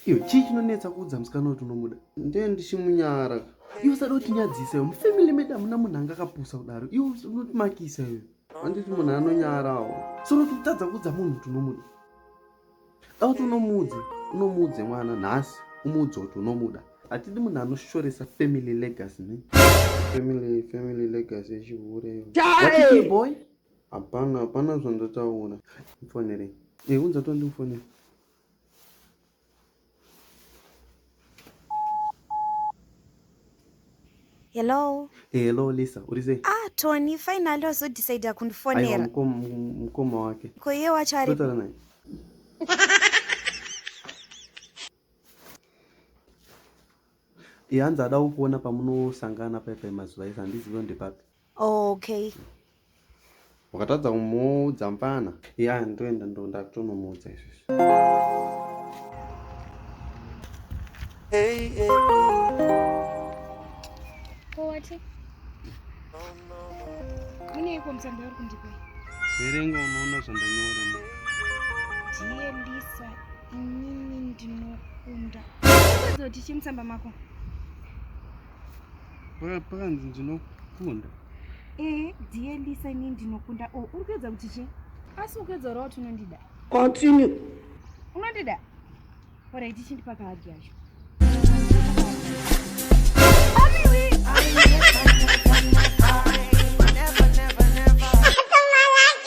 Iyo chii chinonetsa kuudza musikana kuti unomuda? Ndiye ndichimunyara. Iwe usada kutinyadzisa iwe. Mufamily medu hamuna munhu anga akapusa kudaro. Iwe unotimakisa iwe. Handiti munhu anonyarawo. Soro kutadza kuudza munhu kuti unomuda. Dai kuti unomuudze, unomuudze mwana nhasi, umuudze kuti unomuda. Hatidi munhu anoshoresa family legacy ne. Family family legacy yechihure. Chai boy. Hapana, hapana zvandataura. Mfonere. Eh, unza tondimufonera. Hello. Hello Lisa, uri sei? Ah, Tony, finally wazo decide kundifonera. Aiwa mkoma mkoma wake. Ko iye wacho ari. Kutara naye. Ihanzi ada kukuona pamunosangana paipai mazuva ese handizive ndepapi. Okay. Wakatadza kumuudza mpana. Ya, ndoenda ndo ndakutonomuudza izvezvi. Hey, hey. Ko wathi? Muneyiko mthandwa uri kundipa? Verenga unoona zvandanyora ma. Ndiye Lisa, inini ndinokunda. Unozoti chii mutsamba mako? pakanzi ndinokunda ee eh, dear lisa ini ndinokunda o oh, uri kuedza kuti chii asi ukuedza ura kuti unondida continue unondida orait chindipa kahagi yacho